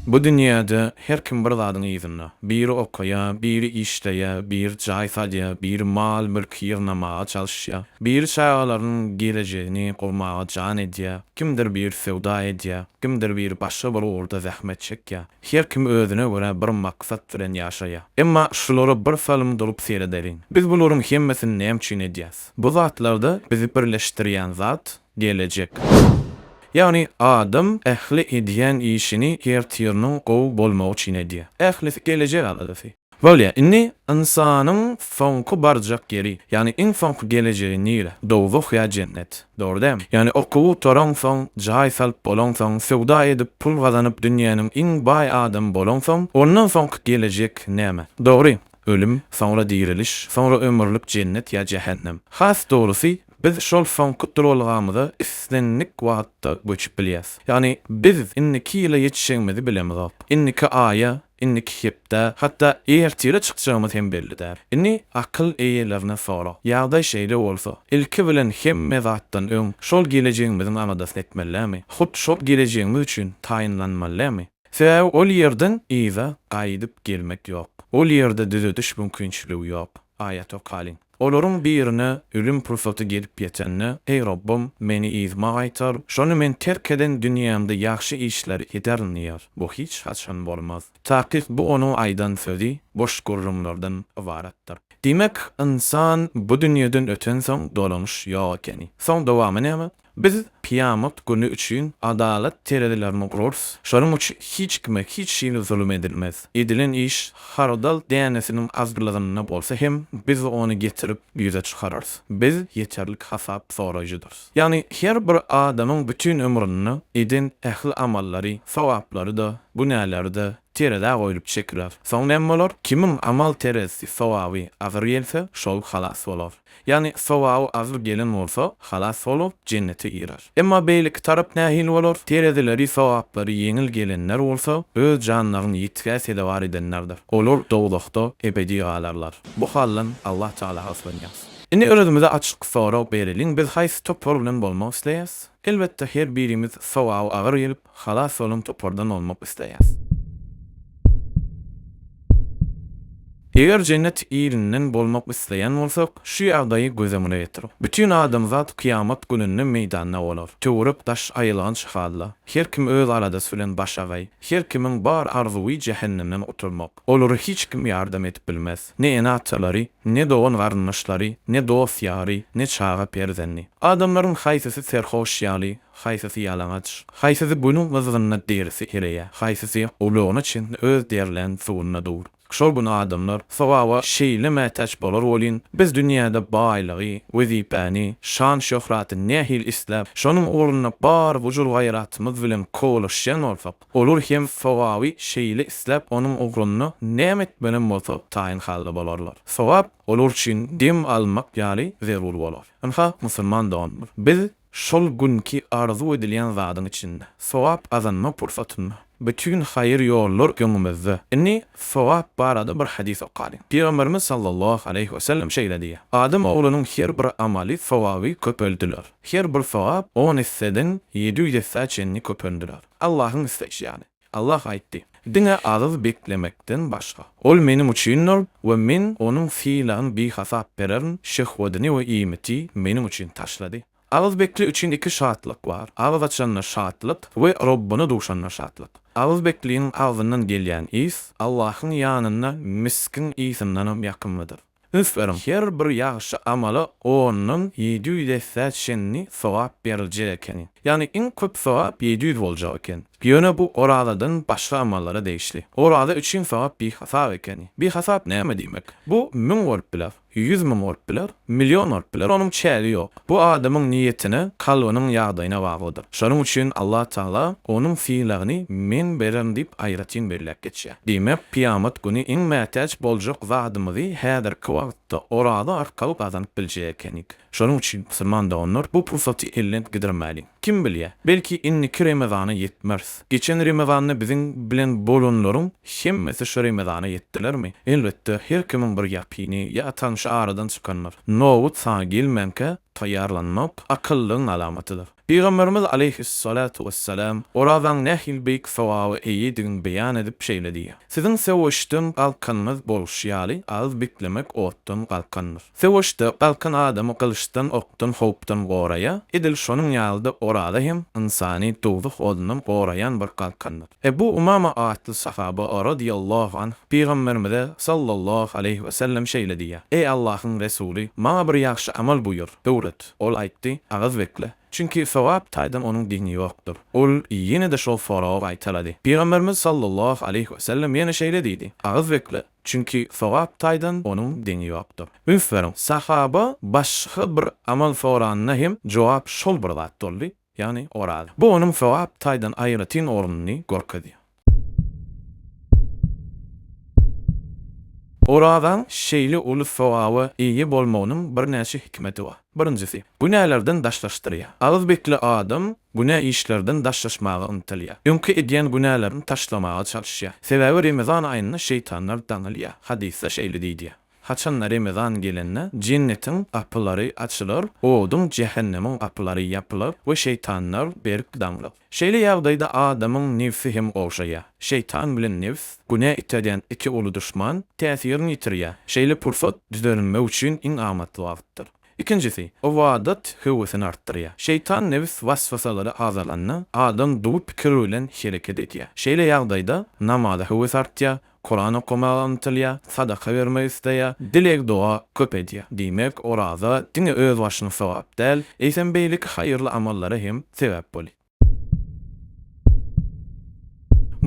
Bu dünýäde her kim bir zadyň yzynda. Biri okaýar, biri işleýär, biri jaý salýar, biri mal-mülk ýygnamaga çalyşýar, biri çagalarynyň gelejegini gurmaga jan edýär, kimdir biri söwda edýär, kimdir biri başga bir ugurda zähmet çekýär. Her kim özüne görä bir maksat bilen ýaşaýar. Emma şulara birsalym durup seredeliň. Biz bularyň hemmesini näme üçin edýäris? Bu zatlarda bizi birleşdirýän zat gelejek. Ýagny adam ähli edýän işini ertiriniň gowy bolmagy üçin edýär. Ählisi gelejek aladasy. Bolýar. Indi ynsanyň soňky barjak ýeri, ýagny iň soňky gelejegi nire? Dowzah ýa jennet. Dogry dälmi? Ýagny okuw gutaraňsoň, jaý salyp bolaňsoň, söwda edip pul gazanyp dünýäniň iň baý adamy bolaňsoň, ondan soňky gelejek näme? Dogry, ölüm, soňra diriliş, soňra ömürlik jennet ýa jähennem. Has dogrusy, Biz şol soňky duralgamyza islendik wagtda göçüp bilýäris. Ýagny biz indiki ýyla ýetişjegimizi bilemizok. Indiki aýa, indiki hepdä, hatda ertire çykjagymyz hem belli däl. Indi akyl eýelerine sora. Ýagdaý şeýle bolsa, ilki bilen hemme zatdan öň şol gelejegimiziň aladasyny etmellämi? Hut şol gelejegimiz üçin taýynlanmallämi? Sebäbi ol ýerden yza gaýdyp gelmek ýok. Ol ýerde düzediş mümkinçiligi ýok. Aýat okalyň. Olaryň birine ölüm pursaty gelip ýetende, Eý, Rabbym, meni yzyma gaýtar, şonda men terk eden dünýämde ýagşy işleri ederin diýer. Bu hiç haçan bolmaz. Takyk bu onuň aýdan sözi boş gürrüňlerden ybaratdyr. Diýmek, ynsan bu dünýeden ötensoň dolanyş ýok ekeni. Soň dowamy näme? Biz kyýamat güni üçin adalat terezilerini gurarys, şonuň üçin hiç kime hiç hili zulum edilmez. Edilen iş hardal dänesiniň azlygynda bolsa hem, biz ony getirip ýüze çykararys. Biz ýeterlik hasap soraýjydyrys. Ýagny her bir adamyň bütin ömründe eden ähli amallary, sogaplary-da, günäleri-de terezä goýlup çekiler. Soň näme bolar? Kimiň amal terezisi, sogaby agyr gelse, şol halas bolar. Ýagny sowaby agyr gelen bolsa, halas bolup, jennete girer. Emma beýleki tarap nähili bolar? Terezileri, sogaplary ýeňil gelenler bolsa, öz janlaryny ýitgä sezewar edenlerdir. Olar dowzahda ebedi galarlar. Bu haldan Allah Tagala yslanýarys. Indi özümize açyk sorag bereliň, biz haýsy topar bilen bolmak isleýäris? Elbetde, her birimiz sowaby agyr gelip, Halas boluň topardan bolmak isleýäs. Eger jennet ilinden bolmak isleýän bolsak, şu ýagdaýy göz öňüne getiriň. Bütin adamzat kyýamat gününde meýdanda bolar. Töwerek daş aýylganç halla. Her kim öz aladasy bilen başagaý. Her kimiň bar arzuwy jähennemden gutulmak. Olara hiç kim ýardam edip bilmez. Ne ene-atalary, ne dogan-garyndaşlary, ne dost-ýary, ne çaga-perzendi. Adamlaryň haýsysy serhoş ýaly, Haýsysy ýalaňaç, haýsysy Günüň gyzgynynda derisi ereýär, haýsysy gulagyna çenli öz derlän suwunda dur. Şol gün adamlar sogaba şeýle mätäç bolar welin, biz dünýäde baýlygy, wezipäni, şan-şöhraty nähili isläp, şonuň ugrunda bar gujur-gaýratymyz bilen kowalaşýan bolsak, olar hem sogaby şeýle isläp, onuň ugrunda näme etmelem bolsa taýyn halda bolarlar. Sogap olar üçin dem almak ýaly zerur bolar. Ynha, musulman doganlar, biz Şol günki arzuw edilýän zadyň içinde, sogap gazanma pursatynda, bütin haýyr ýollar öňümizde. Indi sogap barada bir hadys okalyň. Pygamberimiz sallallahu aleýhi we sellem şeýle diýýär, Adam oglunyň her bir amaly sogaby köpeldiler. Her bir sogap on esseden ýedi ýüz essä çenli köpeldiler. Allahyň isleýşi ýaly. Allah aýtdy, Diňe agyz beklemekden başga. Ol Meniň üçindir we Men onuň sylagyny bihasap bererin, şehwedini we iýmiti Meniň üçin taşlady. Agyz bekli üçin iki şatlyk bar, agyz açanda şatlyk we Robbyna duşanda şatlyk. Agyz bekliniň agzyndan gelýän ys Allahyň ýanynda misgiň ysyndanam ýakymlydyr. Üns beriň, her bir ýagşy amala ondan ýedi ýüz essä çenli sogap beriljek ekeni. Ýagny iň köp sogap ýedi ýüz boljak eken. Ýöne bu orazadan başga amallara degişli. Oraza üçin sogap bihasap ekeni. Bihasap näme diýmek? Bu müň bolup biler, ýüz müň bolup biler, million bolup biler, onuň çägi ýok. Bu adamyň niýetine, kalbynyň ýagdaýyna baglydyr. Şonuň üçin Allatagala onuň sylagyny Men bererin diýip aýratyn belläp geçýär. Diýmek, kyýamat güni iň mätäç boljak zadymyzy häzirki wagtda oraza arkaly gazanyp biljek ekenik. Şonuň üçin, musulman doganlar, bu pursaty elden gidirmäliň. Kim bilýä, belki indiki Remezana ýetmeris. Geçen Remezanda biziň bilen bolanlaryň hemmesi şu Remezana ýetdilermi? Elbetde, her kimiň bir ýakyny ýa tanşy aradan çykandyr. Nobat sana gelmänkä taýýarlanmak akyllyň alamatydyr. Pygamberimiz aleýhis-salatu wes-selam orazaň nähili beýik sogaba eýedigini beýan edip şeýle diýýär, Siziň söweşden galkanyňyz bolşy ýaly, agyz beklemek otdan galkandyr. Söweşde galkan adamy gylyçdan, okdan, howpdan goraýar. Edil şonuň ýaly-da oraza hem ynsany dowzah odundan goraýan bir galkandyr. Ebu Umama atly sahaba, radiýallahu anh, Pygamberimize, sallallahu aleýhi we sellem, şeýle diýýär, Eý Allahyň Resuly, maňa bir ýagşy amal buýur, öwret. Ol aýtdy, Agyz bekle. Çünki sogap taýdan onuň deňi ýokdur. Ol ýene-de şol soragy gaýtalady. Pygamberimiz, sallallahu aleýhi we sellem, ýene şeýle diýdi, Agyz bekle. Çünki sogap taýdan onuň deňi ýokdur. Üns beriň, sahaba başga bir amal soranda hem jogap şol bir zat boldy, ýagny oraza. Bu onuň sogap taýdan aýratyn ornuny görkezýär. Orazaň şeýle uly sogaba eýe bolmagynyň birnäçe hikmeti bar. Birinjisi, günälerden daşlaşdyrýar. Agyz bekli adam günä işlerden daşlaşmaga ymtylýar. Öňki edýän günälerini taşlamaga çalyşýar. Sebäbi Remezan aýynda şeýtanlar daňylýar. Hadysda şeýle diýilýär, Haçan-da Remezan gelende Jennetiň gapylary açylar, oduň, jähennemiň, gapylary ýapylar we şeýtanlar berk daňylar. Şeýle ýagdaýda adamyň nebsi hem gowşaýar. Şeýtan bilen nebs, günä iterýän iki uly duşman, täsirini ýitirýär. Şeýle pursat düzelenmek üçin iň amatly wagtdyr. Ikinjisi, ybadat höwesini artdyrýar. Şeýtan nebis was-wasalary azalanda, adam duwy pikir bilen hereket edýär. Şeýle ýagdaýda namaza höwes artýar, Kuran okamaga ymtylýar, sadaka bermek isleýär, dileg-doga köp edýär. Diýmek, oraza diňe özbaşyna sogap däl, eýsem beýleki haýyrly amallara hem sebäp bolýar.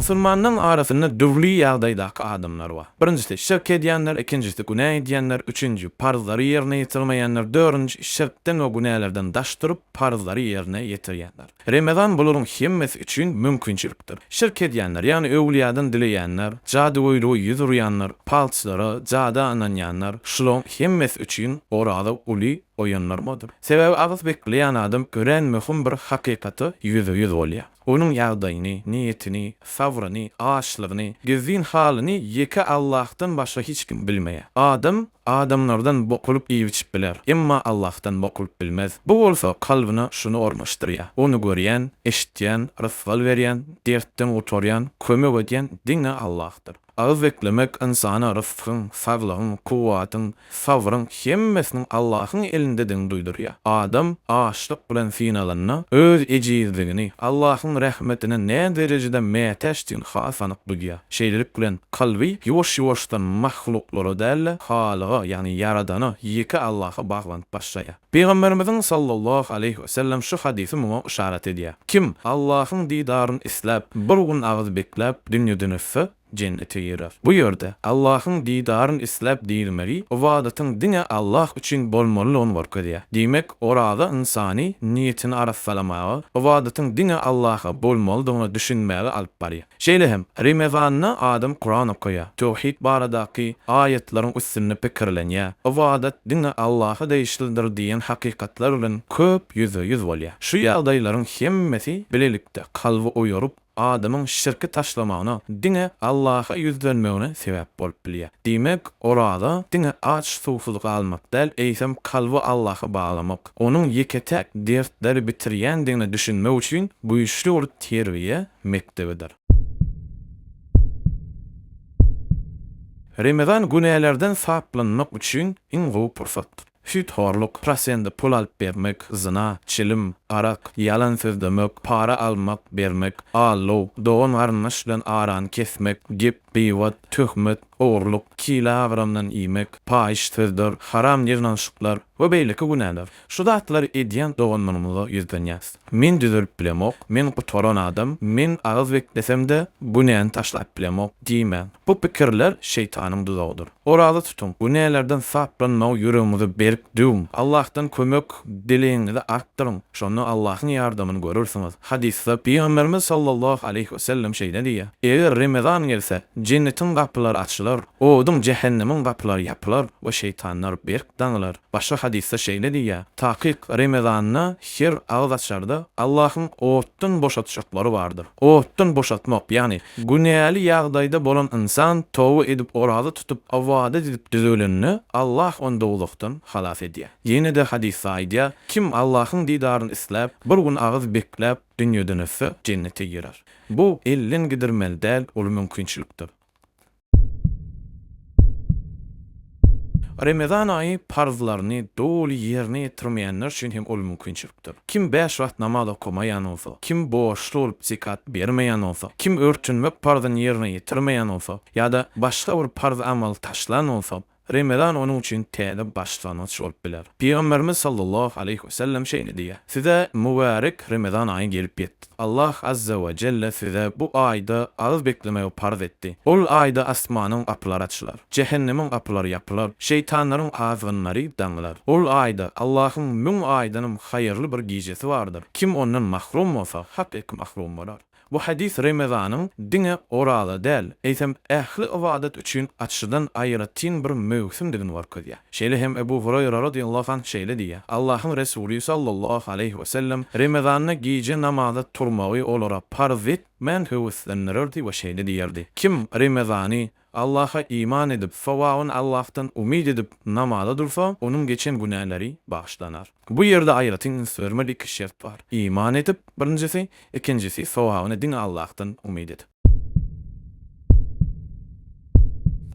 Musulmanlaryň arasynda dürli ýagdaýdaky adamlar bar. Birinjisi, şirk edýänler, ikinjisi, günä edýänler, üçünji, parzlary ýerine ýetirmeýänler, dördünji, şirkden we günälerden daş durup, parzlary ýerine ýetirýänler. Remezan bularyň hemmesi üçin mümkinçilikdir. Şirk edýänler, ýagny öwlüýadan dileýänler, jadygöýlüge ýüz urýanlar, palçylara, jada ynanýanlar, şularyň hemmesi üçin oraza uly oýandyrmady. Sebäbi agys bekleýän adam örän möhüm bir hakykata ýüze-ýüz bolýar. Onuň ýagdaýyny, niýetini, sabryny, açlygyny, gizlin halyny ýeke Allahdan başga hiç kim bilmeýär. Adam adamlardan bokulyp iýip-içip biler, emma Allahdan bokulyp bilmez. Bu bolsa kalbyna şuny ornaşdyrýar, Ony görýän, eşitýän, rysgal berýän, dertden gutarýan, kömek edýän diňe Allahdyr. Az beklemek ynsana rysgyň, saglygyň, kuwwatyň, sabryň hemmesiniň Allahyň elindedigini duýdurýar. Adam açlyk bilen synalanda, öz ejizligini, Allahyň rahmetine näderejede mätäçdigini has anyk duýýar. Şeýlelik bilen, kalby ýuwaş-ýuwaşdan mahluklara däl-de, Halyga, ýagny Ýaradana, ýeke Allaha baglanyp başlaýar. Pygamberimiziň sallallahu aleýhi we sellem şu hadysy muňa yşarat edýär, Kim Allahyň didaryny isläp, bir gün agyz bekläp, dünýeden ötse, jennete girer. Bu ýerde Allahyň didaryny isläp diýilmegi ybadatyň diňe Allah üçin bolmalydygyny görkezýär. Diýmek, oraza ynsany niýetini arassalamaga, ybadatyň diňe Allaha bolmalydygyna düşünmäge alyp barýar. Şeýle hem, Remezanda adam Kuran okaýar, töwhid baradaky aýatlaryň üstünde pikirlenýär, ybadat diňe Allaha degişlidir diýen hakykatlar bilen köp ýüzbe-ýüz bolýar. Şu ýagdaýlaryň hemmesi bilelikde kalby oýaryp, adamyň şirki taşlamagyna, diňe Allaha ýüzlenmegine sebäp bolup bilýär. Diýmek, oraza diňe aç-suwsuz galmak däl, eýsem, kalby Allaha baglamak, onuň ýeke-täk dertleri bitirýändigine düşünmek üçin güýçli bir terbiýe mekdebidir. Remezan günälerden saplanmak üçin iň gowy pursat. Süýthorluk, prosende pul alyp bermek, zyna, çilim, arak, ýalan sözlemek, para almak, bermek, allow, dogan-garyndaş bilen arany kesmek, gep, gybat, töhmet, ogurlyk, kile agramdan iýmek, paýyş sözdür, haram ýygnanyşyklar we beýleki günäler. Şu zatlary edýän doganlarymyza ýüzlenýäris. Men düzelip bilemok, men gutaran adam, men agyz beklesem-de, günäni taşlap bilemok diýmäň. Bu pikirler şeýtanyň duzagydyr. Oraza tutuň, günälerden saplanmagy ýüregiňize berk düwüň. Allahdan kömek dilegiňizi artdyryň. Şonda Allahyň ýardamyny görersiňiz. Hadysda Pygamberimiz sallallahu aleýhi wesellem şeýle diýýär, Eger Remezan gelse, jennetiň gapylary açylar, oduň, jähennemiň gapylary ýapylar we şeýtanlar berk daňylar. Başga hadysda şeýle diýýär, Takyk Remezanda her agyz açarda Allahyň otdan boşatjaklary bardyr. Otdan boşatmak, ýagny günäli ýagdaýda bolan ynsan toba edip oraza tutup ybadat edip düzelende Allah ony dowzahdan halas edýär. Ýene-de hadysda aýdýar, Kim Allahyň didaryny isläp, bir gün agyz bekläp dünýeden ötse, jennete girer. Bu elden gidirmeli däl uly mümkinçilikdir. Remezan aýy parzlaryny doly ýerine ýetirmeýänler üçin hem ol mümkinçilikdir. Kim bäş wagt namaz okamaýan bolsa, kim borçly bolup zekat bermeýän bolsa, kim örtünmek parzyny ýerine ýetirmeýän bolsa ýa-da başga bir parz amaly taşlan bolsa, Remezan onuň üçin täze başlangyç bolup biler. Pygamberimiz sallallahu aleýhi we sellem şeýle diýýär, Size mübärek Remezan aýy gelip ýetdi. Allah azza we jelle size bu aýda agyz beklemegi parz etdi. Ol aýda asmanyň gapylary açylar. Jähennemiň gapylary ýapylar. Şeýtanlaryň azgynlary daňylar. Ol aýda, Allahyň müň aýdanam haýyrly bir gijesi bardyr. Kim ondan mahrum bolsa, hak eki mahrum bolar. Bu hadys Remezanyň diňe oraza däl, eýsem, ähli ybadat üçin açydan aýratyn bir möwsümdigini görkezýär. Şeýle hem Ebu Hureýra radiallahu anh şeýle diýýär, Allahyň Resuly sallallahu aleýhi we sellem Remezanda gije namaza turmagy olara parz etmän höweslendirerdi we şeýle diýerdi, Kim Remezany Allaha iman edip, sowabyny Allahdan umyt edip namaza dursa, onuň geçen günäleri bagyşlanar. Bu ýerde aýratyn üns bermeli iki şert bar, iman edip, birinjisi, ikinjisi, sowabyny diňe Allahdan umyt edip.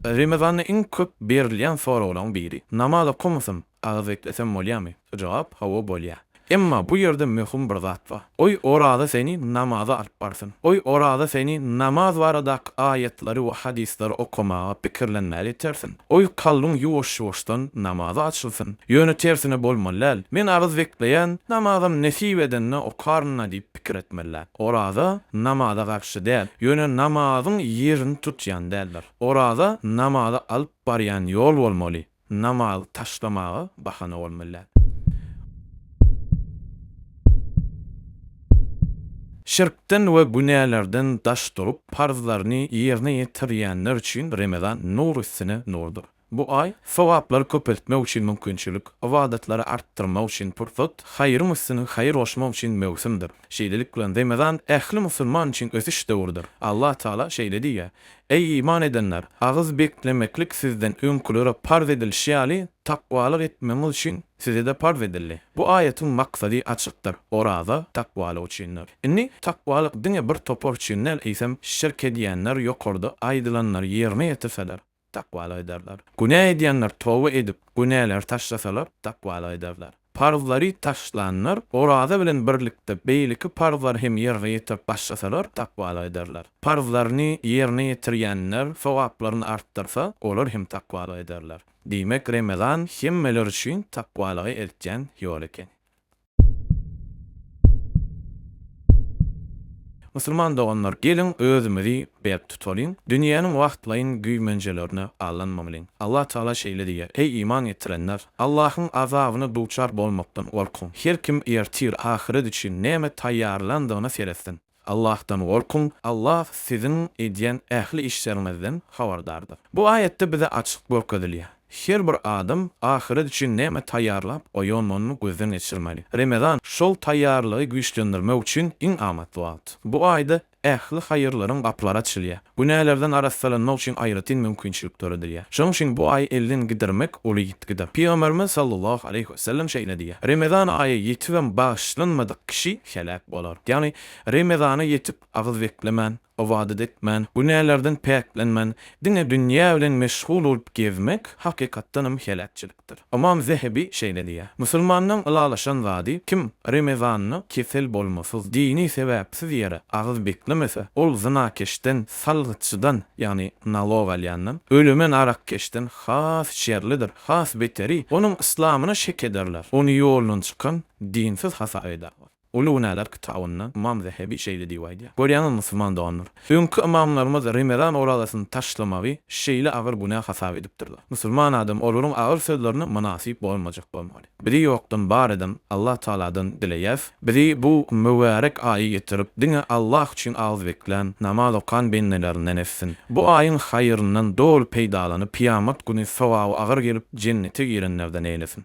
Remezanda iň köp berilýän soraglaryň biri, Namaz okamysyn? Agyz beklesem bolýamy? Jogap, Hawa bolýa. Emma bu ýerde möhüm bir zat bar. Goý oraza seni namaza alyp barsyn. Goý oraza seni namaz baradaky aýatlary we hadyslar okamaga, pikirlenmäge itersin. Goý kalbyň ýuwaş-ýuwaşdan namaza açylsyn. Ýöne tersine bolmaly däl. Men agyz bekleýän, namazam nesip edende okaryn-a diýip pikir etmeli däl. Oraza namaza garşy däl, ýöne namazyň ýerini tutýan däldir. Oraza namaza alyp barýan ýol bolmaly. Namazy taşlamaga bahana bolmaly däl. Şirkden we günälerden daş durup, parzlaryny ýerine ýetirýänler üçin Remezan nur üstüne nurdyr. Bu aý, sogaplary köpeltmek üçin mümkinçilik, ybadatlary artdyrmak üçin pursat, haýryň üstüne haýyr goşmak üçin möwsümdir. Şeýlelik bilen, Remezan ähli musulman üçin ösüş döwrüdir. Allatagala şeýle diýýär. Eý, iman edenler! Agyz beklemeklik sizden öňkülere parz edilişi ýaly, takwalyk etmegiňiz üçin size-de parz edildi. Bu aýatyň maksady açykdyr, Oraza, takwalyk üçindir. Indi, takwalyk diňe bir topar üçin däl, eýsem, şirk edýänler ýokarda aýdylanlary ýerine ýetirseler, takwalyk ederler. Günä edýänler toba edip, günäleri taşlasalar, takwalyk ederler. Parzlary taşlanlar oraza bilen birlikde beýleki parzlary hem ýerine ýetirip başlasalar takwalyk ederler. Parzlaryny ýerine ýetirýänler sogaplaryny artdyrsa, olar hem takwalyk ederler. Diýmek, Remezan hemmeler üçin takwalyga eltýän ýol ekeni. Musulman doganlar, geliň özümizi berk tutalyň, dünýäniň wagtlaýyn güýmenjelerine aldanmamalyň. Allah Tagala şeýle diýýär, Eý iman getirenler! Allahyň azabyna duçar bolmakdan gorkuň. Her kim ertir ahyret üçin näme taýýarlandygyna seretsin. Allahdan gorkuň, Allah siziň edýän ähli işleriňizden habardardyr. Bu aýatda bize açyk görkezilýär, her bir adam ahyret üçin näme taýýarlap goýandygyny gözden geçirmeli. Remezan, şol taýýarlygy güýçlendirmek üçin iň amatly wagt. Bu aýda ähli haýyrlaryň gapylary açylýar. Günälerden arassalanmak üçin aýratyn mümkinçilik döredilýär. Şonuň üçin bu aýy elden gidirmek uly ýitgidir. Pygamberimiz sallallahu aleýhi we sellem şeýle diýýär, Remezan aýy ýetibem bagyşlanmadyk kişi heläk bolar. Ýagny, Remezana ýetip, agyz beklemän, ybadat etmän, günälerden päklenmän, diňe dünýä bilen meşgul bolup gezmek, hakykatdanam heläkçilik. aýdypdyr. Ymam Zehebi şeýle diýýär, Musulmandan ylalaşan zady kim Remezanda kesel bolmasyz, dini sebäpsiz ýere agyz beklemese, ol zynakeşden, salgytçydan, ýagny nalog alýandan, ölemen arakkeşden has şerlidir, has beteri, onuň yslamyna şek ederler, ony ýoldan çykan, dinsiz hasap ederler. Uly günäler kitabynda Ymam Zehebi şeýle diýip aýdýar, Görýäňizmi, musulman doganlar, öňki ymamlarymyz remezan orazasyny taşlamagy şeýle agyr günä hasap edipdirler. Musulman adam olaryň agyr sözlerine mynasyp bolmajak bolmaly. Bizi ýokdan bar eden Allah Tagaladan dileýäs, bizi bu mübärek aýy getirip, diňe Allah üçin agyz beklän, namaz okan bendelerinden etsin. Bu aýyň haýyryndan doly peýdalanyp, kyýamat güni sogaby agyr gelip, jennete girenlerden eýlesin.